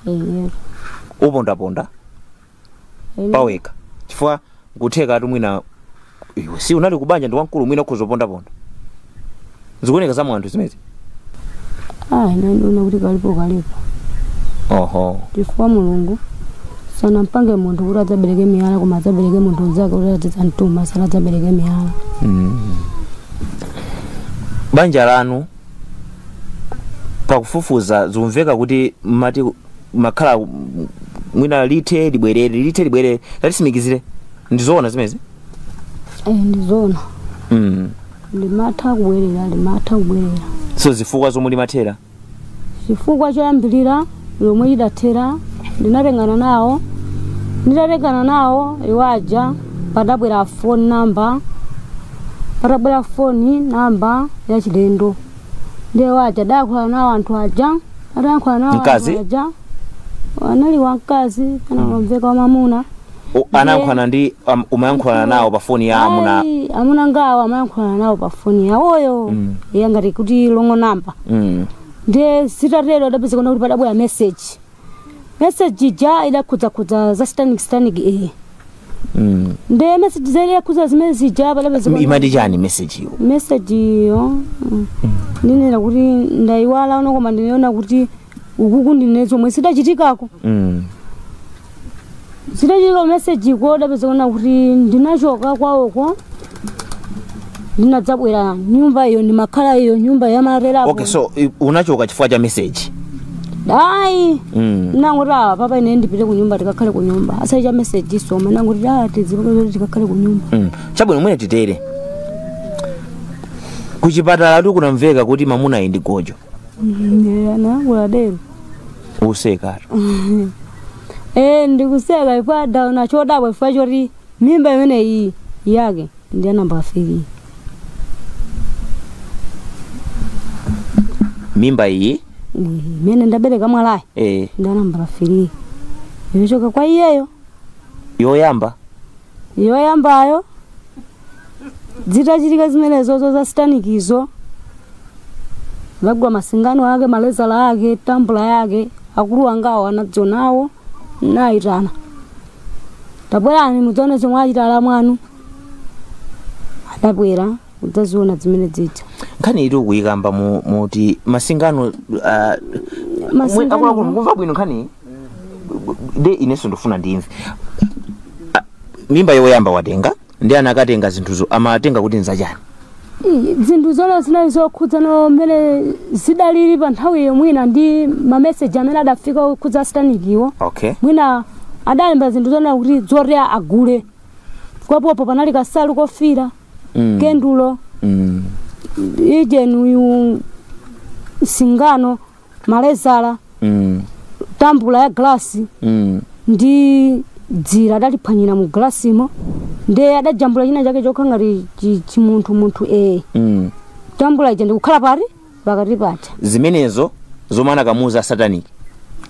Eyetu. Upondaponda. Amen. pawekha chifukwa nkuthekatu mwina iwe si unali kubanja ndi wamkulu mwina ukhoza pondaponda zikuoneka za mwa anthu zimenezi Ah, ine ndiona kuti kalipo kalipo. oho Chifukwa Mulungu sanapange munthu kuti adzabereke miyala koma adzabereke munthu mnzake kuti adzamtuma sati adzabereke miyala. Mm. banja lanu pakufufuza zikumveka kuti mmati mukakhala mm, mwina lithe libwerere lithe libwerere tatisimikizire ndizoona zimenezi Eh, ndizoona mm. limatha kubwerera limatha kubwerera so zifukwa zomwe limathera chifukwa choyambirira chomwe lidathera ndinatengana nawo nditatengana nawo iwaja padabwera phone number padabwera phone number yachilendo ndiye awaja adayankhula nawo anthu aja adayankhula nawo Mkazi? anthu aja anali wamkazi kapena anamveka wamamuna U- anayankhulana ndi um, umayankhulana nawo pa foni ya amuna Ayi, amuna angawo amayankhulana nawo pa foni yawoyo Mm. iye nkumati kuti wrong namba mm. ndiye zitatero adapezeka kuti padabwera meseji message ija idakhudzakhudza za satanic satanic iyi Mm. nde message zake itakhudza zimene zija padabe zikona- imati chani message iyo message iyo mm, ndinene kuti ndayiwala ano koma ndinaona kuti ukuku ndiye zomwe sidachitikako Mm. zitachitira meseji ko adapeza kuona kuti ndinachoka kwawoko ndinadzabwera nyumba iyo ndimakhala iyo nyumba yamarera okay so i- unachoka chifukwa cha message ayi mm. nangoti awa papa ine ndipite ku nyumba tikakhale ku nyumba osati cha meseji so nangoti a tizipapazoti tikakhale ku nyumba mm. chabwino mwene titere kuchipatala tu kunamveka kuti mamunayi ndi gojo nanga dero useka Eh, ndikuseka chifukwa ndaona chodabwa chifukwa choti mimba imene iyi yake ndi ya namba 3 mimba iyi imene ndabereka mwanayi eh, ndi ya namba 3 yochoka kwa iyeyo yoyamba yoyambayo zitachitika zimenezozo za sitanikizo zagwa masingano ake malezala ake tambula yake akulu angawo anadziona nayitana tabwerani mudzione zomwe achita alamu anu adabwera kudzaziona zimene zija nkhani iti ukuyikamba mu- muti masingano ah, Masingano- mwe- akuluakulu mukumva bwino nkhani nde inenso ndifuna ndimve Ah, mimba yoyamba watenga ndi anakatenga zinthuzo amatenga kuti nzachani I- zinthu zona zinali zokhudzana mmene zidalili pa nthawiyo mwina ndi mameseji amene adafika okhudza a sitanikiwo okay mwina adalemba zinthu zona kuti zoti agule kwapopo panali kasalu kofira Mm. kendulo mm. ijeni uyu singano malezala mm, tambula ya glasi mm, ndi dzira adaliphwanyira mu glasimo ndiye adajambula china chake chokhala ngati chi- chimunthu munthu ee mm. tambula ija ndikukhala pati pakati paja zimenezo zomwe anakamuuza a sataniki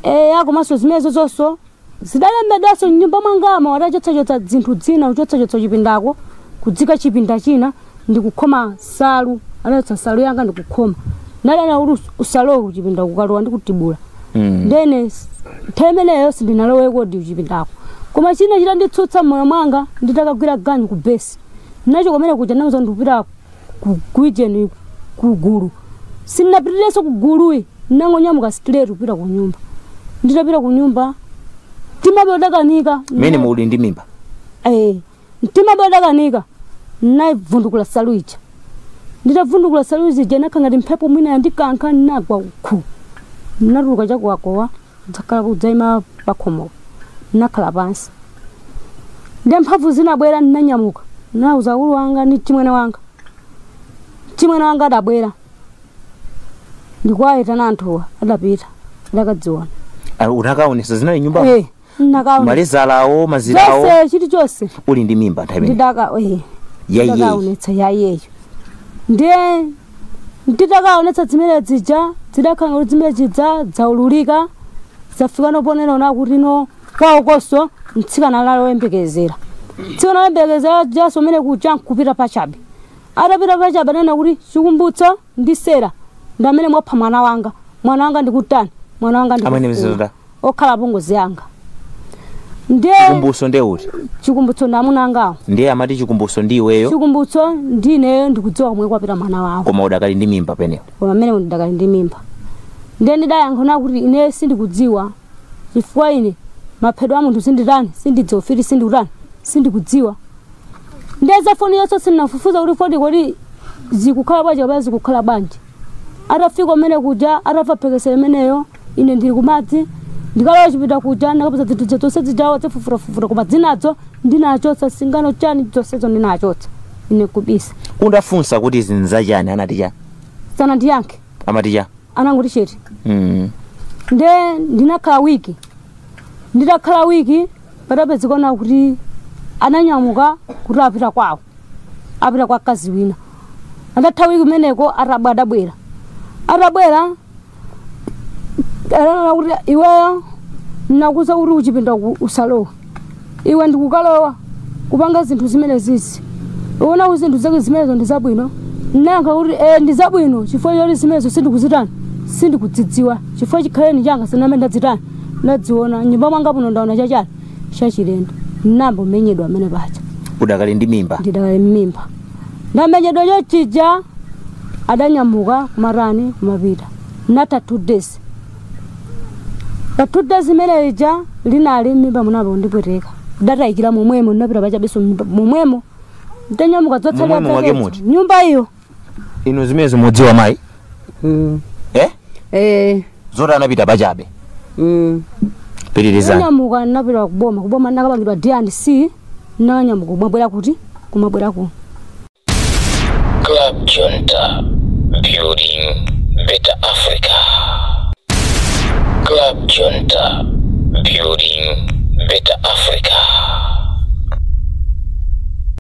eya komanso zimenezo zonso Zidalembedwanso m'nyumba mwangamo, adachotsachotsa zinthu zina, kuchotsachotsa chipindako, kuziika chipinda china, ndi kukhoma nsalu. Adachotsa nsalu yanga ndi kukhoma. Nde adanena kuti us- usalowe kuchipinda ukalowa ndikutibula. Mm. Ndene s- nthawi imeneyo sindinalowe kodi kuchipindako. Koma china chitanditsutsa m'moyo mwanga nditakagwira ganyu ku besi. Nachoka mene kuja ndinauza ndikupita ku- kuijeni kugulu sinnapitirenso kuguluko nnangonyamuka straight kupita ku nyumba nditapita ku nyumba mtimabe odandaulika mmene muli ndi mimba Eh, mtimabe odandaulika naivundukula salu ija nditavundukula salu ija nakha ngati mphepo mwina yandikankha nagwa uku natuluka chakuwakowa Ndinakhala kudzaima pakhomopo. Ndinakhala pansi. Ndiye mphamvu zinabwera ndinanyamuka. Ndinauza akulu wanga ndi mchimwene wanga. Mchimwene wanga adabwera. Ndikuwaitana anthuwa adapita. Adakadziona. Ah, unakaonesa zinali m'nyumba Eh, ndinakaona. malezala awo mazira awo Zonse chili chonse. uli ndi mimba nthawi imene Ndidakaonetsa yaiyeyo. Ndiye Nditakaonetsa zimene zija zidakhala kuti zimene zija dzaululika zafika noponena ona kuti no kwaokonso mtsikana anali oyembekezera mtsikana oyembekezera ujanso umene kuja nkupita pachabe atapita pachabe ananena kuti chikumbutso ndi sera ndi amene mwapha mwana wanga mwana wanga ndikutani mwana wanga ndikufuna. okhala apongozi anga ndiye chikumbutso nde uti chikumbutso ndi amuna angawo ndiye amati chikumbutso ndi iweyo chikumbutso ndi ineyo ndikudziwa komwe kwapita mwana wawo koma udakali ndi mimba pamenepo koma mmene ndidakali ndi mimba ndiye ndidayankha kuti ine sindikudziwa chifukwa ine maphedwe a munthu sinditani sindidziwa ufiti sindikutani sindikudziwa ndiye za phone yonse ndinafufuza kuti phone kodi zikukhala bwanji kapena zikukhala bwanji atafika umene kuja atamva mphekesera imeneyo ine ndili kumadzi ndikalowa kuchipinda kuja ndakapeza zinthu zonse zijawo zafufutafufuta koma zinazo ndinachotsa singano chani zonsezo ndinachotsa ine kubisa undafunsa kuti izi nzachani anati chani sanandiyankhe amati cha anangoti chete mm. nde ndinakhala wiki nditakhala wiki padapezeka kuti ananyamuka kuti apita kwawo apita kwa mkazi wina atatha wiki kumeneko atabwa adabwera atabwera ananena kuti iweyo nakuuza kuti kuchipinda usalowe iwe ndikukalowa kupanga zinthu zimene zija uona kuti zinthu zake zimenezo ndi zabwino nayankha kuti e ndi zabwino chifukwa choti zimenezo sindikuzitani sindikudzidziwa chifukwa chikhaleni changa sinamene ndazitani ndaziona m'nyumba mwanga muno ndaona chachani chachilendo n'nayamba kumenyedwa pamene paja udakali ndi mimba ndidakali ndi mimba ndamenyedwa chochija adanyamuka kumatani kumapita natha two days pa two days imene ija linali mmimba munali undipweteka idatayikira momwemo ndinapita pachabenso momwemo ndanyamuka Momwemo mwake muti? nyumba iyo inu zimenezo mudziwa mayi Mm. eh Eh. zoti anapita pachabe Mm. pitirizani Ndanyamuka ndinapita kuboma. Kuboma ndinakapangidwa D&C. Ndanyamuka kumabwera kuti? Kumabwera ku. Club Junta, building a better Africa. Club Junta, building better Africa.